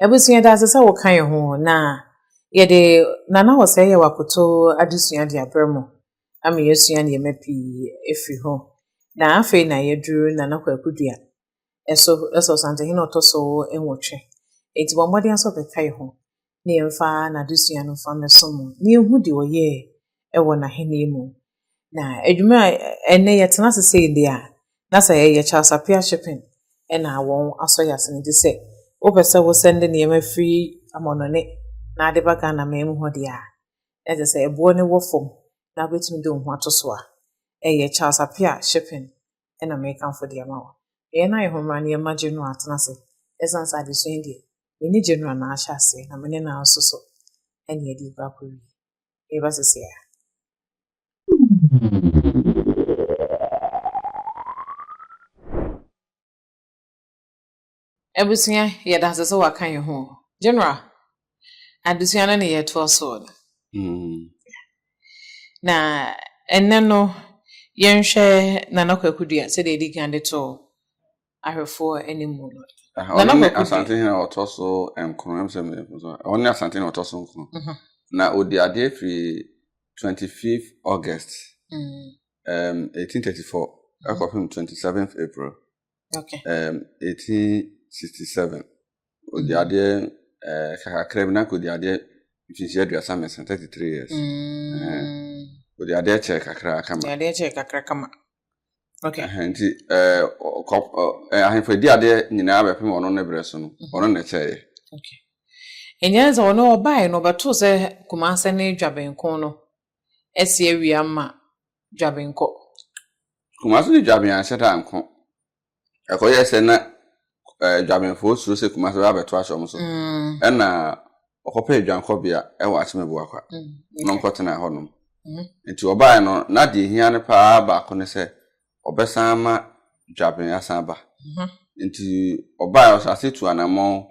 Abusua de asɛ sɛ wɔka yɛn ho na yɛde Nana Ɔsɛe Yaw akoto adesua de abrɛ mo ama yɛasua nneɛma pii afiri hɔ. Na afei na yɛaduru Nana Kwaku Dua ɛso ɛsɛ Ɔsantehene ɔtɔ so nwɔtwe. Enti bɔ mmɔden sɛ ɔbɛka yɛn ho na yɛmfa n'adesua no mfa mmɛso mo, na yɛhu deɛ ɔyɛɛ wɔ n'ahennie mu. Na adwuma a ɛnɛ yɛtena ase sei deɛ a, na sɛ ɛyɛ Charles Appiah Shipping ɛna wɔn asɔ yɛ ase no gye sɛ wopɛ sɛ wosɛnde nneɛma firi amɔnɔne na ade ba Ghana man mu hɔ deɛ a, na gye sɛ ɛboɔ no wɔ fam na wobɛtumi de wo ho ato so a, ɛyɛ Charles Appiah Shipping na mekamfo de ama wo. Yɛn ayɛhommerɛ no yɛma Genoa atena ase ɛsiane sɛ adesua yi deɛ, me ne Genoa na ahyɛ aseɛ na me ne no ara nso so na yɛde rekɔ akɔwie. Yɛreba seesei ara. Abusua yɛ danse sɛ waka yɛn ho. General, adesua no na yɛtoa so no. Mm. Na ɛnɛ no, yɛnhwɛ Nana Kwaku Dua sɛdeɛ ɛdi kan de to ahwɛfoɔ anim mu no. Ah, Nana ɔno ne Kwaku Asante Dua. hene a ɔtɔ so nkron ɛm sɛ me- me- so- ɔno ne Asante hene a ɔtɔ so nkron Mhm. na ɔdi adeɛ firi 25 August Mm. um, 1834 ɛkɔpem 27 April Okay. Um, 1867. Odi mm. adeɛ uh, kakra bi na kodi adeɛ mfinhyia aduasa mmiɛnsa 33 years. Mm. Odi adeɛ kyɛ kakra kama. Odi adeɛ kyɛ kakra kama. Okay. Uh, nti uh, uh, ahemfo edi adeɛ nyinaa bɛpem ɔno ne berɛ so no mm-hmm. ɔno na ɛkyɛeɛ. Okay. Ɛnyɛ sɛ ɔno ɔbaeɛ no ɔbɛtoo sɛ Kumase ne Dwabenko no asi awia ma Dwabenkɔ. Kumase ne Dwaben anhyɛ da nko. Ɛkɔyɛɛ sɛ na eh, Dwabenfoɔ suro sɛ Kumase bɛba abɛto ahyɛ wɔn so. Mm. Ɛna ɔkɔpɛɛ dwankɔbea wɔ Akyemeboakwa mm, na ɔkɔtenaa hɔnom. Mm. Nti ɔbaeɛ no, na deɛ ɛhia no paa baako ne sɛ ɔbɛsan ama Dwaben asan aba. Mm-hmm. Nti ɔbaeɛ ɔhyɛ ase tu anammɔn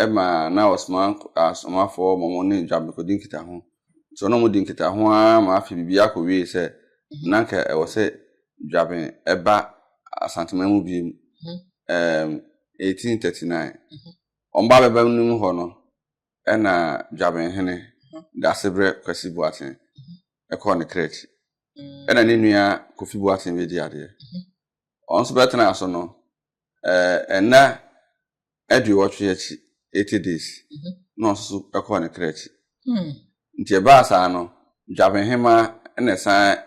ma na ɔsoma asomafoɔ ma wɔn ne John bɛkɔdi nkitaho. So na wɔdi nkitaho ara ma afei biribi akɔ wie sɛ na anka ɛwɔ sɛ Dwaben ɛba Asanteman mu biem um, 1839. Wɔn ba bɛba no mu hɔ no ɛna Dwaben hene Dasebrɛ Kwasi Boaten ɛkɔɔ ne krɛkyi ɛna ne nua Kofi Boaten bɛdi adeɛ. Wɔn nso bɛtenaa so no Eh, nna aduowɔtwe akyi, eighty days, mhm. na ɔno nso kɔɔ ne kra akyi. Hmm. Nti ɛbaa saa no, dwabenhema na ɛsan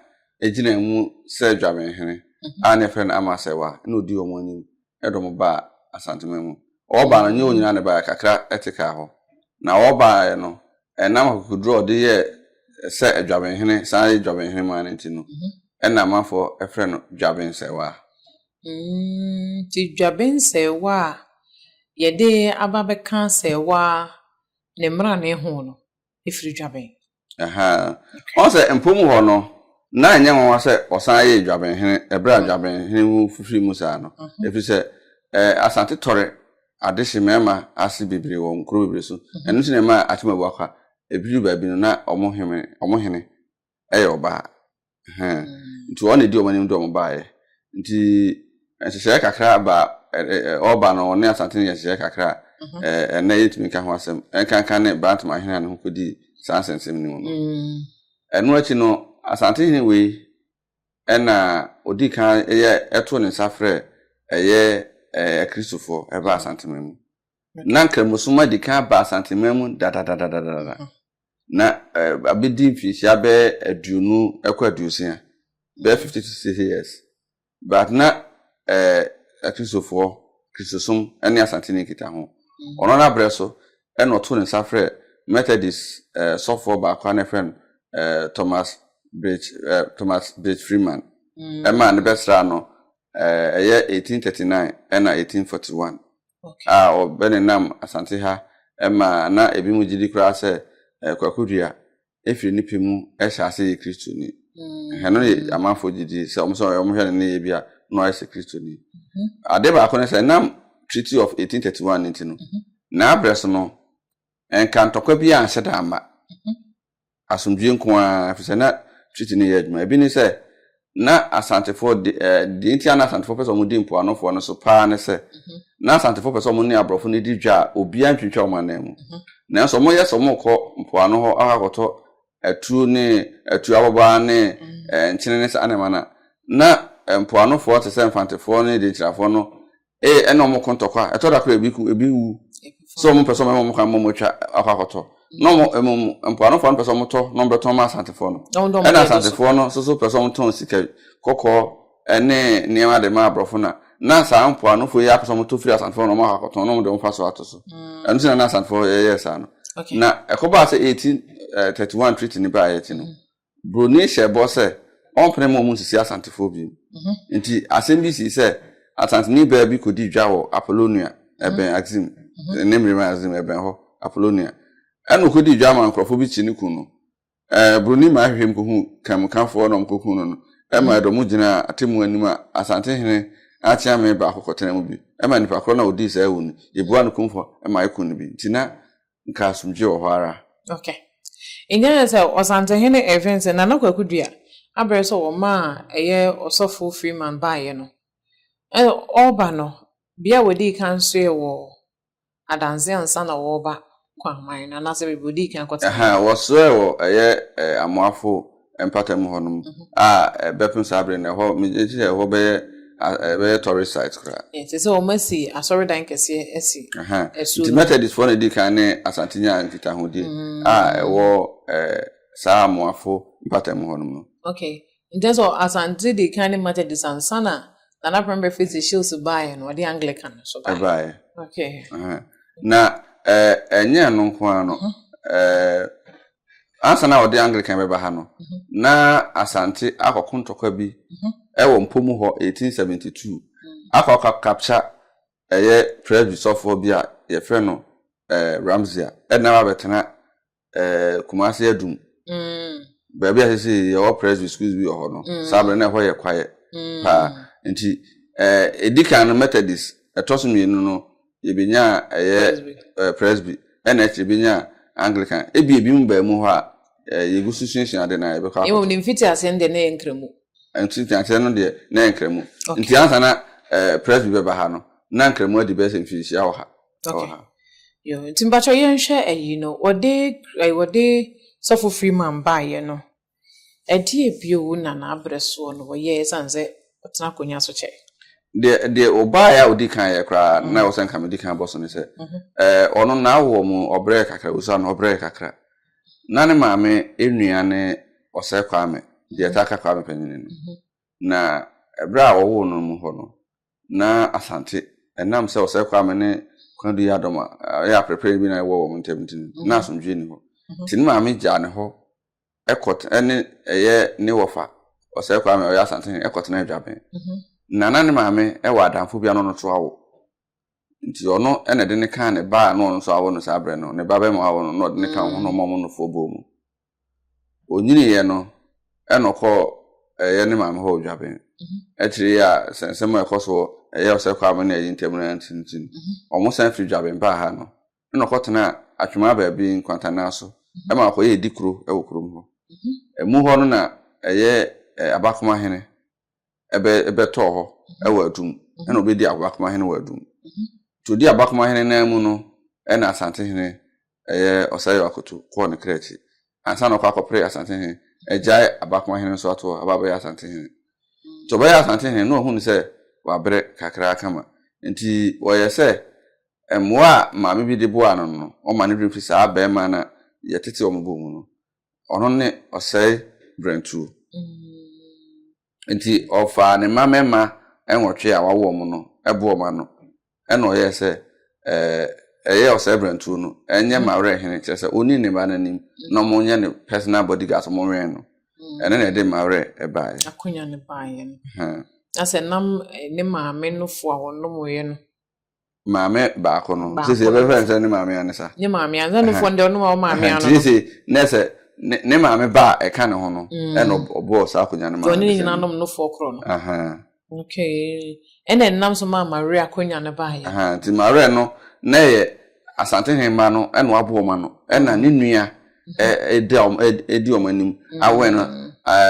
gyina mu sɛ dwabenhene mhm. a na ɛfrɛ no Amasɛwa na ɔdi wɔn anim de wɔn baa Asantema mu. Ɔba no, nyɛ wɔn nyinaa na ɛbaeɛ, kakra te kaa hɔ. Na ɔbaeɛ no, ɛnam akokoduro a ɔde yɛɛ sɛ adwabenhene san yɛ dwabenhene maa no nti no mhm. ɛna amanfoɔ frɛ no dwabensɛwaa Mm, nti dwabe nsɛewa a yɛde aba bɛka asɛewa ne mmrane ho no firi dwaben. Aha. Ɔn sɛ mpom hɔ no, na ɛnyɛ nwanwa sɛ wɔsan yee dwabenhene ɛberɛ a mm-hmm. dwabenhene ho fifiri mu saa no. Mm-hmm. Ɛfiri sɛ eh, Asante tɔre ade hye mmarima ase bebree wɔ nkuro bebree so. Mm-hmm. Ɛno nti na ɛma Atimabu akwa. Ɛbiri baabi no na wɔn hene ɛyɛ ɔbaa hɛn nti ɔno na edi wɔn anim de wɔn baeɛ nti nhyehyɛeɛ kakra ba ɔba no ɔne asante no yɛ nhyehyɛeɛ kakra ɛnɛ yɛntumi nka ho asɛm ɛnkanka ne brantam ahene a ne ho kɔdi saa nsɛnsɛm no mu no ɛno akyi no asante hene wei ɛna ɔdi kan ɛyɛ ɛto ne nsa frɛ ɛyɛ akristofoɔ ɛba asante mu Na Nkramosom adi kan aba Asanteman mu dadadadadada, na abɛdi mfinhyia bɛyɛ aduonu kɔ aduosia, bɛyɛ fifty to sixty years, but na Akristofoɔ, Kristosom ne Asanteni nkita ho. Ɔno ara berɛ so na ɔtoo ne nsa frɛɛ Methodist sɔfoɔ baako a na ɛfrɛ no Thomas Bridge, Thomas Bridge Freeman, ɛmaa no bɛsraa no, ɛyɛ eighteen thirty nine ɛna eighteen forty one. a wɔbɛnenam Asante ha ma na ebinom gye di koraa sɛ Kwaku Duah firi ne pɛ mu hyɛɛ ase yɛɛ Kristoni. Hwɛ, ɛno na amanfoɔ gye di sɛ wɔn sɛ wɔhwɛ ne nneyɛɛ bi a na wayɛ sɛ Kristoni. Ade baako ne sɛ ɛnam Treaty of 1831 no nti no, n'abrɛ so no, ɛnka ntɔkwa biara anhyɛ da amma. Asomdwoeɛ nko ara, ɛfiri sɛ na treaty no yɛ adwuma. Ebi ne sɛ, na Asantefoɔ de, eh, deɛ nti a na Asantefoɔ pɛ sɛ wɔdi mpoanofoɔ no so paa ne sɛ, na Asantefoɔ pɛ sɛ wɔn ne aborɔfo no di dwa a obiara ntwintwa wɔn anan mu. Nanso wɔyɛ sɛ wɔrekɔ mpoano hɔ akɔ akɔtɔ atuo ne atuo ababaa ne eh, nkyene ne saa nneɛma no a, na eh, mpoanofoɔ te sɛ Mfantefoɔ ne Denkyirafoɔ no ee ɛna wɔn ko ntɔkwa ɛtɔ da kora ebi ku ebi wu sɛ wɔn mpɛ sɛ wɔn wɔn kan wɔn atwa akɔ akɔtɔ na wɔn ɛmu mpoanofoɔ no pɛ sɛ wɔn tɔ na wɔn bɛ tɔn ma asantefoɔ no ɛna asantefoɔ no soso pɛ sɛ wɔn tɔn sika kɔkɔɔ ɛne nneɛma de ma aborɔfo na na saa mpoanofoɔ yi apɛ sɛ wɔn tɔ firi asantefoɔ na wɔn akɔ akɔtɔn na wɔn de wɔn fa so ato so mm. ɛno sɛ na na asantefoɔ yɛyɛ saa no na ɛkɔbaa sɛ eighteen eh, thirty one treaty ne baa yɛ ti no. Mm. Broni hyɛɛ bɔ sɛ ɔrempene ma wɔnsisi Asantefoɔ bio. Enti asɛm bi sii sɛ Asanteni baa bi kɔdii dwa wɔ Apollonia, ɛbɛn Axim, ne mmerem a Axim ɛbɛn hɔ, Apollonia. Ɛnna ɔkɔdii dwa maa nkurɔfoɔ bi kyee no kum no. Ɛɛ, Broni maa hwehwɛɛ mu kɔhuu Kanmukafoɔ na wɔkɔkum no no. Ɛmaa ɛdɔm no gyinaa atemmuo anim a Asantehene Akyeame baako kɔtenaa mu bi. Ɛmaa nnipa korɔ no a ɔdii saa awu no, yɛbuaa no kumfɔ maa yɛkum no bi. Enti na Nka asomdwoe wɔ hɔ ara. Ok. Nyae sɛ Ɔsantohene Irving se Nana Kwaku Dua abrɛ sɛ wɔma a ɛyɛ Ɔsɔfo Freeman baeɛ no. Ɛna ɔreba no, bea a wɔdii kan soeɛ wɔ Adanse ansa na wɔreba Kwangman no, anaasɛ baabi a wɔdii kan kɔtenaa. Ɛhɛn, wɔsoɛɛ wɔ ɛyɛ Amoafo mpata mu hɔnom a ɛbɛpem saa bere no ɛhɔ megye sɛ ɛhɔ bɛyɛ ɛbɛyɛ tourist site koraa. ɛsɛ sɛ wɔn asi asɔredan kɛseɛ asi ɛso nti methodistfoɔ na ɛdi kan ne asante nya nkitahodie mm. a ɛwɔ ɛɛ saa amoafo mpata mu hɔnom no. okay nkyɛn sɛ asante di kan ne methodist ansa na nana pɛrɛm bɛ fesi shields baeɛ no ɔde anglican so baeɛ. ɛbaeɛ okay na ɛɛ ɛnyɛ ɛno nko ara no ɛɛ. ansa na wɔde Anglican bɛba ha no, mhm. na Asante akɔko ntɔkwa bi mhm. wɔ mpo mu hɔ 1872 mhm. akɔ akɔ capture ɛyɛ Presby sɔfoɔ bi a yɛfrɛ no eh, Ramsia ɛna wabɛtena eh, Kumasi Adum mm. baabi a sisi yɛwɔ Presby schools bi wɔ hɔ no mm. saa bɛrɛ na ɛhɔ yɛ kwaeɛ mm. paa nti eh, ɛdi kan no Methodist ɛtɔ so mmienu no Yɛbɛnyaa ɛyɛ ɛɛ Presby, ɛna akyire yɛbɛnyaa Anglican. Ebia ebinom baa mu hɔ a, ɛɛ yɛgu so suasua ade no a, yɛbɛkɔ akɔto. Mmom ne mfitiaseɛ no deɛ na ɛyɛ Nkramu. Mfitiaseɛ no deɛ na ɛyɛ Nkramu. Okay. Nti ansa na ɛɛ Presby bɛba ha no, na Nkramu adi bɛyɛ sɛ mfinhyia wɔ ha. Okay. Wɔ ha. Yoo, nti mpakyɛw yɛnhwɛ ayi no, wɔde ɛɛ wɔde Sɔfo Freeman baeɛ no, Ɛdeɛ bio na n'aberɛ soɔ no wɔyɛ ɛsiane sɛ ɔtena akonnwa so kyɛɛ? Deɛ, deɛ ɔbaeɛ a ɔdi kan yɛ koraa, na ɛwɔ sɛ nka medi kan bɔ so ne sɛ, ɛɛ, ɔno n'awoɔ mu ɔbrɛɛ kakra, Usa no ɔbrɛɛ kakra. Ná ne maame nua ne Osei Kwame, deɛ yɛtaa ka Kwame Panyini no. Na ɛberɛ a wɔwoo no mu hɔ no, na Asante, ɛnam sɛ Osei Kwame ne Kwadu yɛ adɔm a ɛyɛ aperepereɛ bi na ɛwɔ wɔn ntam nti no, na asomdwoeɛ nni hɔ. Nti ne maame gyaa ne hɔ Ɛkɔt ne ɛyɛ ne wɔfa ɔsɛe kwame a ɔyɛ asantehene ɛkɔt ne adwaben mhm. na na ne maame ɛwɔ adamfo bia no no to awo nti ɔno ɛna ɛde ne kan ne ba a no ɔno nso awo no saa berɛ no ne ba bɛma awo no na ɔde ne kan ho no ɔmɔ mo no foɔ bɔɔ mu onyiniiɛ no ɛna ɔkɔɔ ɛyɛ ne maame hɔ odwaben mhm. akyire yi a sɛ nsɛm a ɛkɔ soɔ ɛyɛ ɔsɛe kwame ne ɛyi ntam no ntintin mhm. ɔmo san firi dwaben baa ha no ɛna ɔkɔtenaa Atwemaa baabi nkwantannan so ma ɔkɔyɛɛ dikuro wɔ kurom hɔ. Ɛmu hɔ no na ɛyɛ Abakoma hene bɛtɔɔ hɔ wɔ Adum, ɛna ɔbɛdi Abakoma hene wɔ Adum. Nti ɔdi Abakoma hene nan mu no ɛna Asante hene ɛyɛ Ɔsɛeyaw Akoto kɔɔ ne kra akyi ansa na ɔkɔ akɔpere Asante hene agyae Abakoma hene nso ato hɔ aba abɛyɛ Asante hene. Nti ɔbɛyɛɛ Asante hene na ɔhunu sɛ wabrɛ kakra kama nti wɔyɛ sɛ mmoa a maame bi de boaa no no, wɔma ne werɛ fi saa barima no a yɛtete wɔn bɔ mu no. Ɔno ne ɔsɛe berɛntuo. Nti ɔfaa ne mma mmarima nwɔtwe a wawo wɔn no bɔ wɔn ano, ɛna ɔyɛɛ sɛ ɛyɛ ɔsɛe berɛntuo no nyɛ m'awerɛhene, kyerɛ sɛ ɔnni ne mma no anim na wɔnyɛ ne personal bodyguards, wɔnwɛn no. Ɛno na ɛde m'awerɛ baeɛ. Akonya no baeɛ no. Na sɛ nam ne maame nofo a wɔnomoeɛ no maame baako no sese ɛbɛfrɛ nsɛ ne maame anisa ne maame anisa ne fɔ ndɛ ɔno ma ɔmaame ano no sese ne sɛ ne ne maame ba a ɛka ne ho no mm. ɛna ɔbɔɔ saa akonnwa no ma ɔne ne nyina nom no fɔ korɔ no okay ɛna ɛnam so maa maria akonnwa no baayɛ nti maria no na ɛyɛ asante hemma no ɛna waboɔ ma no ɛna ne nua ɛdi wɔn anim awɛn no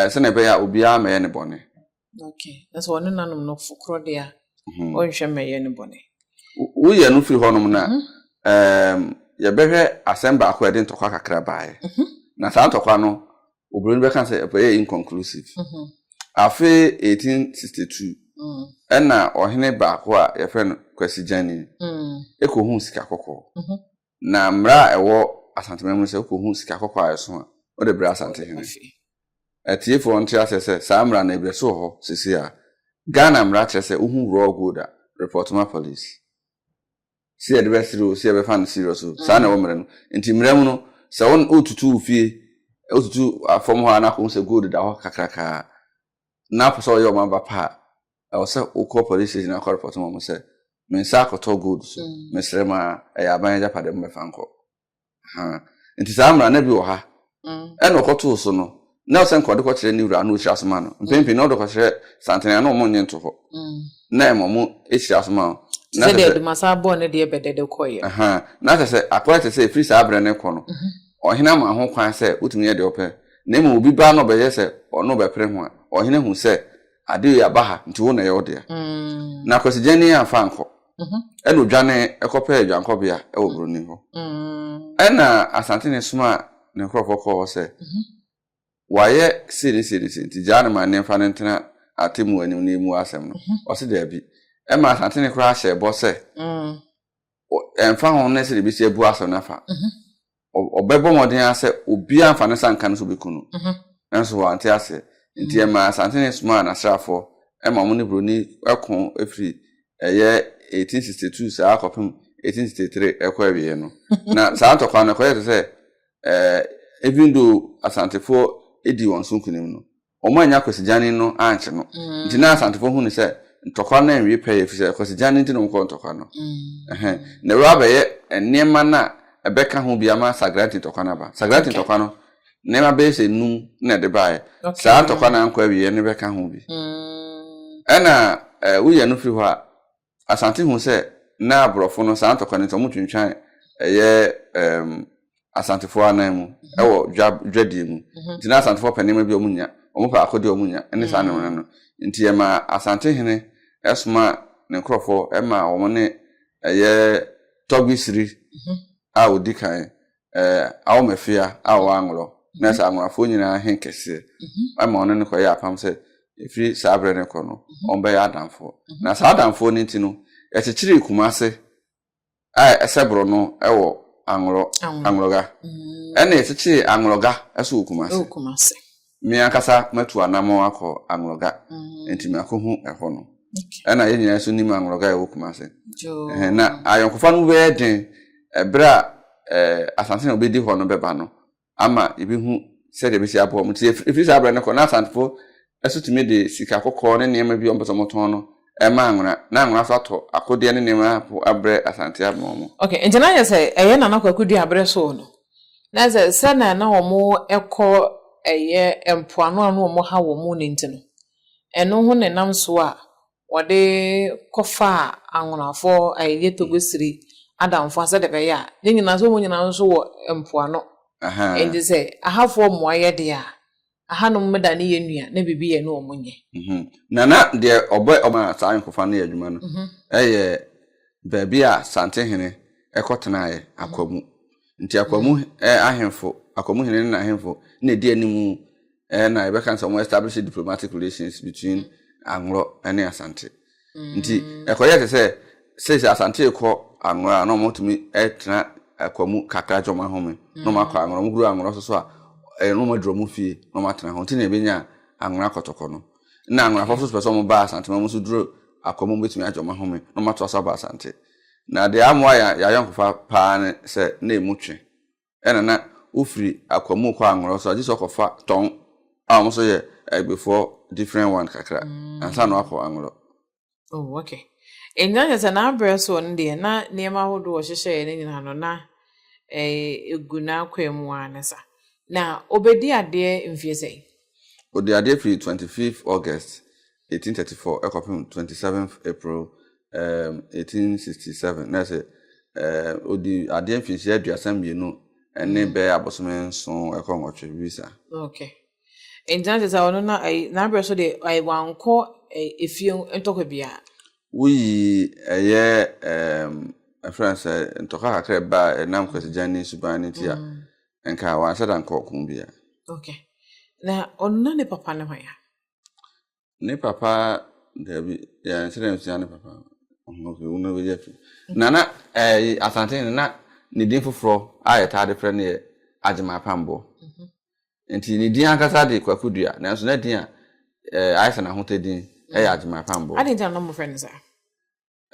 sɛnea ɛbɛyɛ a obiara mɛyɛ ne bɔne Okay. Na sɛ ɔne nanom no fo korɔ deɛ a, mm-hmm. ɔnhwɛ mmɛyɛ no bɔne. Woyɛ no firi hɔnom no a, mm-hmm. yɛbɛhwɛ asɛm baako a ɛde ntɔkwa kakra baeɛ. Mm-hmm. Na saa ntɔkwa no, oburoni bɛka sɛ ɛyɛ inconclusive. Afe 1862, mm. ɛna ɔhene baako a yɛfrɛ no Kwasi Gyani, ɛkɔhuu sika kɔkɔɔ. Na mmara a ɛwɔ Asanteman mu ne sɛ wokɔhu sika kɔkɔɔ a ɛso a, wode brɛ Asantehene. Atiefoɔ nte aseɛ sɛ saa mmara no ebi so wɔ hɔ seesei a. Ghana mmara kyerɛ sɛ wohu raw gold a, report ma police. Sɛ yɛde bɛsere o, sɛ yɛbɛfa no serious o, saa na ɛwɔ mmara mu. Nti mmara mu no, sɛ woretutu wo fie, wotutu fam hɔ a na akɔhu sɛ gold da hɔ kakraka a, na wopɛ sɛ ɔyɛ wɔn aba pa a, ɛwɔ sɛ wokɔ police station akɔ report ma wɔn sɛ me nsa akɔtɔ gold so mm. mesrɛ ma ɛyɛ aban agyapade mo bɛfa nkɔ nti saa mmara na bi wɔ ha mm. ɛna ɔkɔtoo so no na ɔsɛ nkɔde kɔkyerɛ ne wura na ɔkyerɛ aso ma no mm. mpempem na ɔde kɔkyerɛ santene a na ɔmo nye nto hɔ na ɛma ɔmo akyerɛ aso ma no na sɛ deɛ dumasa abɔɔ ne deɛ bɛdɛdɛ kɔyɛ na sɛ sɛ akɔyɛ sɛ sɛ ɛfiri saa berɛ ne kɔ no mhm. ɔhene ama ho kwan sɛ wotumi yɛ deɛ ɔpɛ Na mmom obi ba na ɔbɛyɛ sɛ ɔno bɛpere ho a, ɔhene hu sɛ ade yi aba ha nti wo na ɛyɛ wo dea. Mm. Na kwasigyani yɛ amfa ankɔ. Mhm. Ɛna odwane ɛkɔpɛɛ adwankɔbea ɛwɔ buroni hɔ. Mm. Ɛna asantene soma ne nkurɔfoɔ kɔɔ hɔ sɛ Mhm. wayɛ sei ne sei ne sei nti gyaa no ma ne mfa no ntena atemmu anim na ɛmu asɛm no. Mhm. Ɔse daabi. Ɛma asantene koraa hyɛɛ bɔ sɛ Mm. ɛmfa ho ne sɛ ebesi abu asɛm no afa mhm. ɔbɛbɔ mmɔden ara sɛ obiara mfa ne sanka no so bɛku no mhm. nanso wante aseɛ nti mhm. ɛma asante ne somaa n'asraafoɔ ɛma wɔn ne buroni ɛko ɛfiri ɛyɛ 1862 saa kɔpem 1863 ɛkɔ awieɛ no na saa ntɔkwa no ɛkɔyɛ te sɛ ɛɛ even though asantefoɔ ɛdi wɔn so nkunim no wɔannya Kwasigyanin no ankye no. Nti na Asantefo hu no sɛ ntɔkwa no anwie pɛyɛ, efisɛ Kwasigyanin nti na wɔkɔɔ ntɔkwa no. Na wei abɛyɛ nneɛma no a ɛbɛka ho bi ama Sagranti ntɔkwa no aba. Sagranti ntɔkwa no, nneɛma bɛyɛ sɛ nnum na ɛde baeɛ. Saa ntɔkwa no ankɔ awieeɛ no bɛka ho bi. Ɛnna woyɛ no firi hɔ a, Asante hu sɛ na aborɔfo no saa ntɔkwa no nti wɔtwentwan ɛyɛ um, asantefoɔ anan mu ɛwɔ dwa dwadie mu mhm. nti na asantefoɔ pɛ nneɛma bi wɔn nya wɔn pɛ akɔdeɛ wɔn nya ɛne saa nneɛma no nti ɛma asante hene ɛsoma ne nkorɔfoɔ ɛma wɔn ne ɛyɛ tɔgbi siri mhm. a odi kan eh, Aomefea a ɔwɔ Anglɔ na ɛsɛ Anglɔafoɔ nyinaa he kɛseɛ mhm. ma ɔne no kɔyɛ apam sɛ ɛfiri saa berɛ no kɔ no mhm. ɔmbɛyɛ adamfoɔ mhm. na saa adamfoɔ no nti no ɛkyekyeree Kumase a ɛsɛ borɔ no wɔ Anglɔ Anglɔga ɛna ɛkyekyeree Anglɔga ɛso wɔ Kumase me ankasa matu anammɔn akɔ Anglɔga, nti makɔhu ɛhɔ no. Ɛna yɛn nyinaa nso nim Anglɔga a ɛwɔ Kumase. Na ayɔnkofa no bɛyɛ den ɛberɛ a Asante na ɔbɛdi hɔ no bɛba no ama yɛbɛhu sɛdeɛ ɛbɛsi aboa mu. Nti ɛfiri saa berɛ no kɔ na Asantefo ɛso tumi de sika kɔkɔɔ ne nneɛma bi ɔmpɛ sɛ ɔmotɔn no ɛma Anwena na Anwena nso atɔ akodeɛ ne nneɛma abrɛ Asante ama wɔn. Ok, nti na kyerɛ sɛ ɛyɛ Nana Kwaku Duaberɛ so no? Na sɛ sɛnea na wɔkɔ ɛyɛ mpoano a na wɔha wɔn no nti no, ɛno ho na ɛnam so a wɔde kɔfaa anwonafoɔ ɛyɛ togosiri adamfoɔ sɛdeɛ ɛbɛyɛ a ne nyinaa sɛ wɔn nyinaa nso wɔ mpoano. Nti sɛ ahafoɔ mmoa yɛ deɛ a, ahanom meda ne yɛ nua na biribi yɛ ne wɔn nyɛ. Mhm. Na na deɛ ɔbɛ ɔma saa nkofa no yɛ adwuma no mhm. ɛyɛ baabi a Santehene ɛkɔ tenaeɛ mhm. akwamu. Nti akwamu ɛɛ ahemfo akwamu hene ne n'ahemfo na ɛdi anim ɛɛ na yɛbɛka sɛ wɔn establish diplomatic relations between Anglɔ ɛne Asante. nti ɛkɔyɛ te sɛ sɛsi asante kɔ anworɔ a na wɔtumi tena akwa mu kakra gye wɔn ahome na wɔn akɔ anworɔ wɔn kuru anworɔ soso a ɛyɛ na wɔn aduro mu fie na wɔn atena ho nti na ebenya anworɔ akɔtɔkɔ no na anworɔ afɔfo nso pɛ sɛ wɔn ba asante mu nso duro akwa mu betumi agye wɔn ahome na wɔn ato asa ba asante na deɛ amoa yɛ ayɔnkofa paa ne sɛ na emu twe ɛna na wofiri akwa mu kɔ anworɔ so a gye sɛ ɔkɔfa tɔn a wɔn nso yɛ agbefoɔ different one kakra ansa na wakɔ anworɔ oh okay nti na kyerɛ sɛ n'abrɛ soɔ no deɛ na nneɛma ahodoɔ ɔhyehyɛeɛ no nyinaa no na ɛgu eh, n'akwan mu ara ne sa na ɔbɛdi adeɛ mfie sɛn ɔdi adeɛ firi 25 august eighteen thirty four ɛkɔ pem twenty seventh April ɛɛm eighteen sixty seven na ɛsɛ ɛɛm odi adeɛ mfinhyia aduasa mmienu ɛne mm. bɛyɛ abosome nson ɛkɔ nwɔtwe visa. okay nti na sɛ ɔno na ɛyi n'abirɛ so de ɛyi wankɔ ɛyi efie ntɔkwa bia. woyi ɛyɛ ɛɛm ɛfrɛ sɛ ntɔkwa kakra ba ɛnam kwasigyɛn ne suban ne ti a mm. nka wanhyɛ da nkɔ ɔko bia. okay na ɔno na ne papa ne hɔn ya. Ne papa dabi yɛn sɛ dɛm sua ne papa ɔhɔnfɛ wuna bɛ yɛ fi na na ɛɛ eh, asante no na ne din foforɔ a yɛtaa de frɛ no yɛ agyema apambɔ mhm. nti ne din ankasa de kwaku dua nanso na din a ɛɛ eh, ayɛ sɛ n'ahotɛ din ɛyɛ mhm. agyema apambɔ. adi nti na na wɔn frɛ no saa.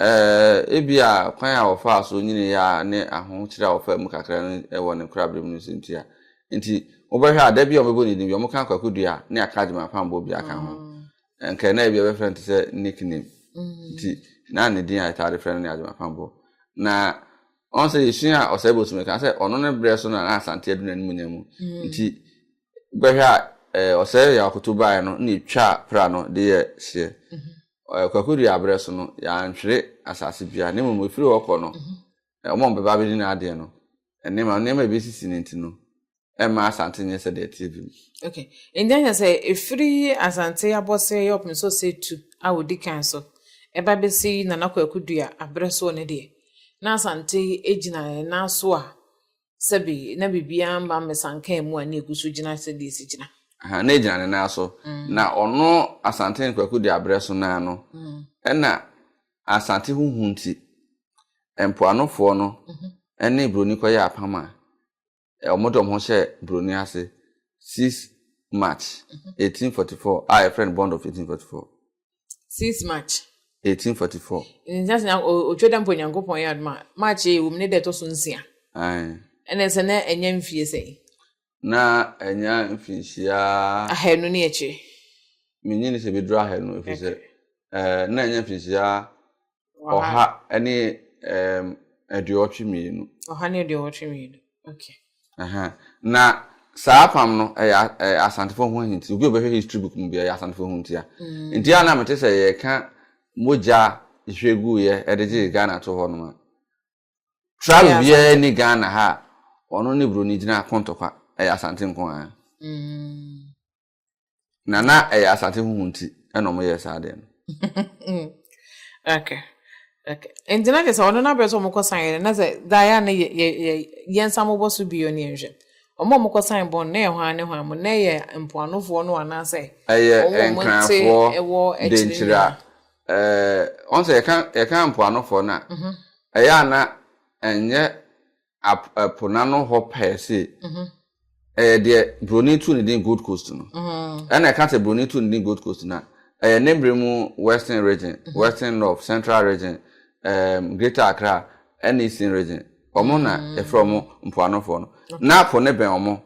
Ebia kwan a wɔfaa so nyinii ara ne ahokyere a wɔfaa mu kakra no wɔ ne koraberem no nso ntia. Enti, wobɛhwɛ a, da biara a wɔbɛbɔ ne din bi a, wɔka Kwaku Duah ne Akagyem Ampammboɔ biara ka ho. Anka na ebia wɔbɛfrɛ no te sɛ nickname. Nti, na ne din a yɛtaa de frɛ no ne Agyem Ampammboɔ. Na ɔn sɛ yɛsua Ɔsɛebosom no ka sɛ ɔno ne berɛ so na na Asante adu n'animuonyam mu. Nti, wobɛhwɛ a, Ɔsɛe Yaw Akoto baeɛ no na ɛtwaa pra no de yɛɛ hyeɛ. ɛ Kwaku Duah berɛ so no, yɛantwere asase biara, na mmom ɛfiri hɔ kɔ no, ɛ wɔn a wɔbɛba abɛdi n'adeɛ no, nneɛma nneɛma a ɛbɛsisi no nti no, ɛmma Asante nyɛ sɛdeɛ ɛteɛ bi mu. Okay. Enti ɛnyɛ sɛ ɛfiri Asante abɔseɛ yɛ ɔpem sɛ ɔsɛ tu a ɔdi kan so ɛba bɛsi Nana Kwaku Duah aberɛ soɔ no deɛ, na Asante gyina ɛnan so a sɛbe na biribiara mma mmesankaa mu a na egu so gyina sɛdeɛ esi gyina. Aha, na egyina ne nan so. Mm. Na ɔno Asante Kwaku de abrɛ so naa no. Mm. Ɛna Asante ho hu nti, mpoanofoɔ no mhm. ɛne Buroni kɔyɛ apam a wɔn de wɔn ho hyɛ Buroni ase 6 March 1844 mhm. a yɛfrɛ no Bond of 1844. 6 March. 1844. Nsa sena otwa da mpo Nyankopɔn yɛ adom a March yɛ wom ne da ɛtɔ so nsia. Ɛna sɛ na ɛnyɛ mfie sɛn? Na ɛnyɛ mfinhyia. Ahanu ne akyire. Menyini sɛ bɛduru ahanu ɛfiri sɛ na ɛnyɛ mfinhyia ɔha ne um, aduɔwɔtwe mmienu. ɔha ne aduɔwɔtwe mmienu okay. Uh-huh. na saa apam no ɛyɛ ɛyɛ asantefo ho ahinti obi a ɔbɛhwɛ history book mu bi ɛyɛ asantefo ho ntia mm. nti a na mete sɛ yɛka mogya hwɛ gu yɛ ɛde gye ghana to hɔ no ma travel biara ni ghana ha ɔno ne buroni gyina kɔntɔkwa ɛyɛ asante nko ara. Mm. na na ɛyɛ asate huhu nti ɛna wɔn yɛ saa deɛ no. okay okay nti na kyerɛ sɛ ɔno n'abɛrɛ sɛ wɔn kɔ san yɛ na sɛ daeɛ a na yɛ yɛ yɛ yɛn nsa mo bɔ so bio ne yɛn hwɛ wɔn a wɔn kɔ san bɔn na yɛ hɔn ne hɔn mo na yɛ mpoanofoɔ no anaasɛ. ɛyɛ nkranfoɔ denkyira ɛɛ wɔn sɛ yɛka yɛka mpoanofoɔ no a mhm. ɛyɛ ana ɛnyɛ ap ɛpo n'ano hɔ pɛɛ se mhm. ɛyɛ deɛ buroni tu ne din gold coast no mhm. ɛna ɛka sɛ buroni tu ne din gold coast na ɛyɛ ne bere mu western region mhm. western north central region um, greater accra ɛne eastern region wɔn na ɛfrɛ wɔn mpoanofoɔ no na po ne bɛn wɔn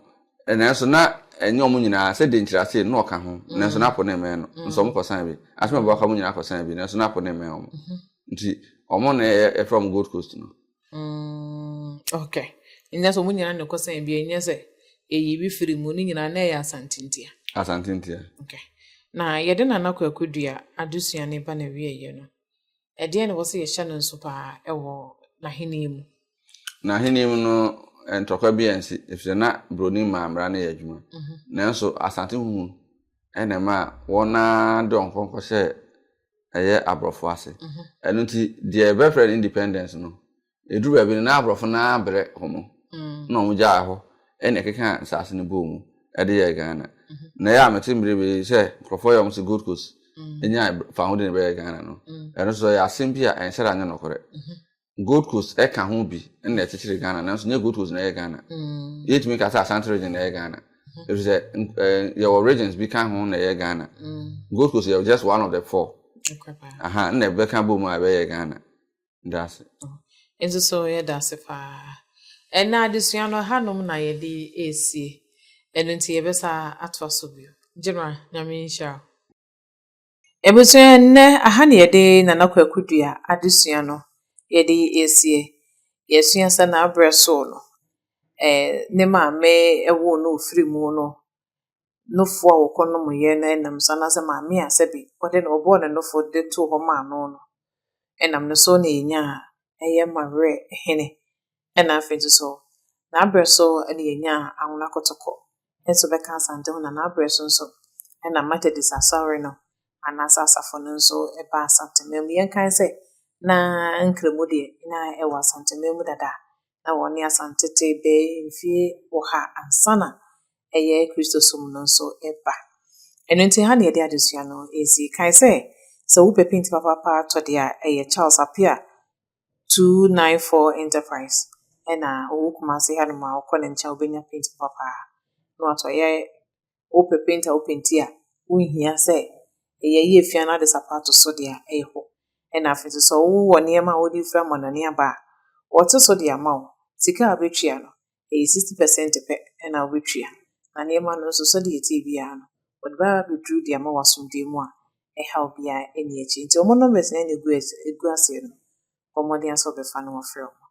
nanso na ɛnyɛ wɔn nyinaa sɛ de nkyerɛase na ɔka ho nanso na po ne mmɛn no nso wɔn kɔsan bi asɛm a ɛbɛka wɔn nyinaa kɔsan bi nanso na po ne mmɛn wɔn nti wɔn na ɛfrɛ wɔn gold coast no. Mm, okay. Nyɛ sɛ ɔmo nyinaa na ɛkɔ sɛn bia nyɛ sɛ ɛyi bi firi mu ne nyinaa na ɛyɛ asantentia. Asantentia. Okay. Na yɛde Nana Kwaku Dua adesua ne ba na wieɛ no. Ɛdeɛ na ɛwɔ sɛ yɛhyɛ no nso paa ɛwɔ n'ahenni mu. N'ahenni mu no ntɔkwa bi ansi efisɛ na broni maa mmara no yɛ adwuma mhm. nanso asante huhu ɛna ma wɔn a de wɔn kɔnkɔ hyɛ ɛyɛ aborɔfo ase mhm. ɛno nti deɛ ɛbɛfrɛ no independence no ɛduru baabi no na aborɔfo no ara brɛ wɔn mm. na wɔn gyaa hɔ ɛna ɛkeka nsaase no bɔɔ mu ɛde yɛ ghana mhm. na ɛyɛ a mete mmere bi sɛ nkurɔfoɔ yɛ wɔn sɛ gold coast mm. ɛnya faho de ne bɛyɛ ghana no mm. ɛno nso ɛyɛ asɛm bi a ɛnsɛ da nyɛ nɔkorɛ gold coast ɛka ho bi ɛna ɛkyekyere ghana nanso nyɛ gold coast na ɛyɛ ghana mm. yɛtumi ka sɛ asante region na ɛyɛ ghana mm-hmm. ɛfiri sɛ eh, yɛwɔ regions bi ka ho na ɛyɛ ghana mm. gold coast yɛ just one of the four aha na ɛbɛka bɔ mu a ɛbɛyɛ ghana daase oh. nso so yɛ daase paa ɛna adesua no hanom na yɛde ɛresie ɛno nti yɛbɛsa atoa so bio gyina nyame nhyira Ebusua nnɛ aha na yɛde Nana Kwaku Dua adesua no yɛde ɛsie. Yɛsua sɛ n'abrɛ soo no, eh, ne maame woo no firii mu no, nufoɔ a wɔkɔ nom yɛ no ɛnam so anaasɛ maame a sɛbi ɔde no ɔbɔɔ no nofo de too hɔ maa no no ɛnam no so na yɛnyaa ɛyɛ Mawerɛ Hene Nna afei so so n'aber so na yenyaa Anwona Kotoko so bɛkã Asante ho na n'aber so so na Methodist Asɔr no anaaso asafo no so baa Asante man mu. Yɛnkae dɛ na Nkremu de na wɔ Asante man mu dada na wɔnye Asante tse bɛyɛ mfe ɔha ansaana yɛ Christosom no so ba. Eno ntsi ha na yɛde adzesua no edzi. Kae dɛ sɛ wo pɛ pinti papaapa tɔ de a, yɛ Charles Appiah two nine four enterprise ɛna ɔwɔ kumase ha nom a ɔkɔ ne nkyɛn ɔbɛnya paint papa paa na wato ɛyɛ wopɛ paint a wopenti a wonhia sɛ ɛyɛ yɛ fia no ade sapato so deɛ ɛyɛ hɔ ɛna afei nso sɛ wowɔ nneɛma a wode fira mɔnane aba a wɔte so de ama wo sika a wobɛtua no ɛyɛ sixty percent pɛ na wobɛtua, na nneɛma no nso sɛdeɛ ɛteɛ biara no, wɔde bɛba abɛduru de ama wɔ asomdwoeɛ mu a, ɛhaw biara ɛnni akyire. Nti wɔn numbers na ɛna ɛgu ɛgu aseɛ no, bɔ mmɔden ara sɛ wɔbɛfa na wɔafrɛ wɔn.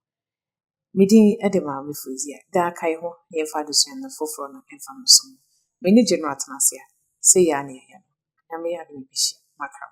Me din de Maame Fozia. Daa kae ho na yɛmfa adesua no foforɔ no mfa mmɛso mo. M'ani gye no atena ase a, sei ara na yɛyɛ no. Onyame yɛ adom a yɛbɛhyia. Makram.